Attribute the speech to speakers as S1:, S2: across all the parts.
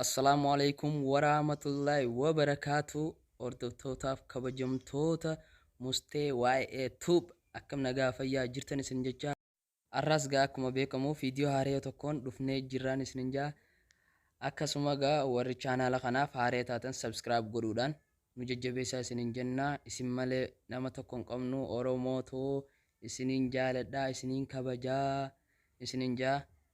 S1: Assalaamu Aleeykum Waraamatullaahi Wabarakaatuh Hordoftootaaf Kabajamtoota Mustee YA Tube Akkam Nagaa Fayyaa Jirtan Isinin Jechaa Arraas Gaa Akkuma Beekamu Viidiyoo Haaraya Tokkoon Dhufnee Jirraan Isinin Jaa Akkasuma Gaa Warri Chaanaala Kanaaf Haaraya Taatan Subscribe Godhuudhaan Nu Jajjabeessaa Isinin Jenna Isin Malee Nama Tokko Hin Qabnu Oromoo Too Isinin Jaaladhaa Isinin Kabajaa Isinin Jaa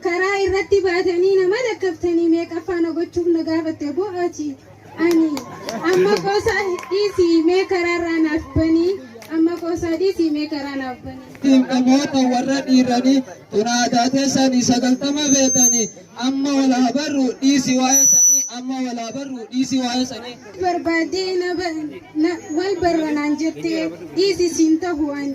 S2: Karaa irratti baatanii na malakkaftanii meeqaffaa na gochuuf na gaafatte boo ati? Ani, Amma qoosaa dhiisii mee karaarraa naaf banii, amma qoosaa dhiisii mee karaa naaf banii. Ittiin dhamoota warra
S3: dhiiranii tunaataa teessanii sagaltama feetanii amma wal haa barru dhiisii waa'ee sanii amma wal haa barru dhiisii waa'ee sanii. Barbaaddee na ba-
S2: na- wal barra naan jettee dhiisii siin tahu ani.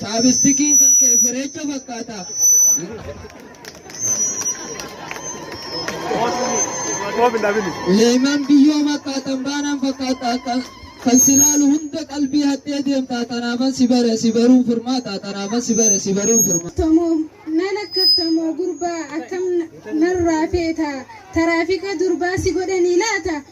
S3: Chaabistikiin kan kee fireecha fakkaata. Leeman biyyoo fakkaatan baanaan fakkaata kan si laalu hunda qalbii hattee deemta tanaafan si bare si baruun furmaata tanaafan si bare si baruun furmaata. Tamoo nan
S2: akkaftamoo gurbaa akkam narraa feeta taraafika durbaa si godhanii laata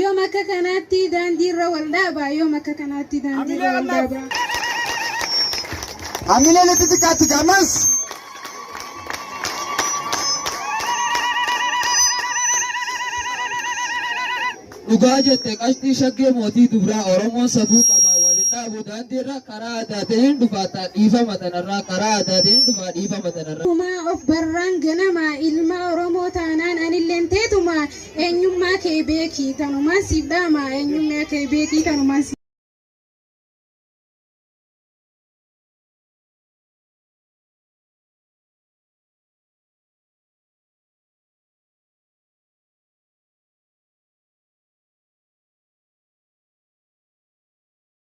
S2: Yoom akka kanaatti daandii irra wal dhaaba. Yoom akka kanaatti daandii irra wal dhaaba.
S3: Hamilee litti xiqqaatti gamas. Dhugaa jette qashtii shaggee mootii dubraa Oromoon safuu qaba waliin dhaabu daandiirra karaa addaa ta'een dhufaataa dhiifama tanarraa karaa addaa ta'een dhufaa dhiifama tanarraa. Kumaa of barraan
S2: ganama ilma Oromoo taanaan anilleen teetuma Eenyummaa kee beeki tanumaan siif dhaama eenyummaa kee beeki tanumaan siif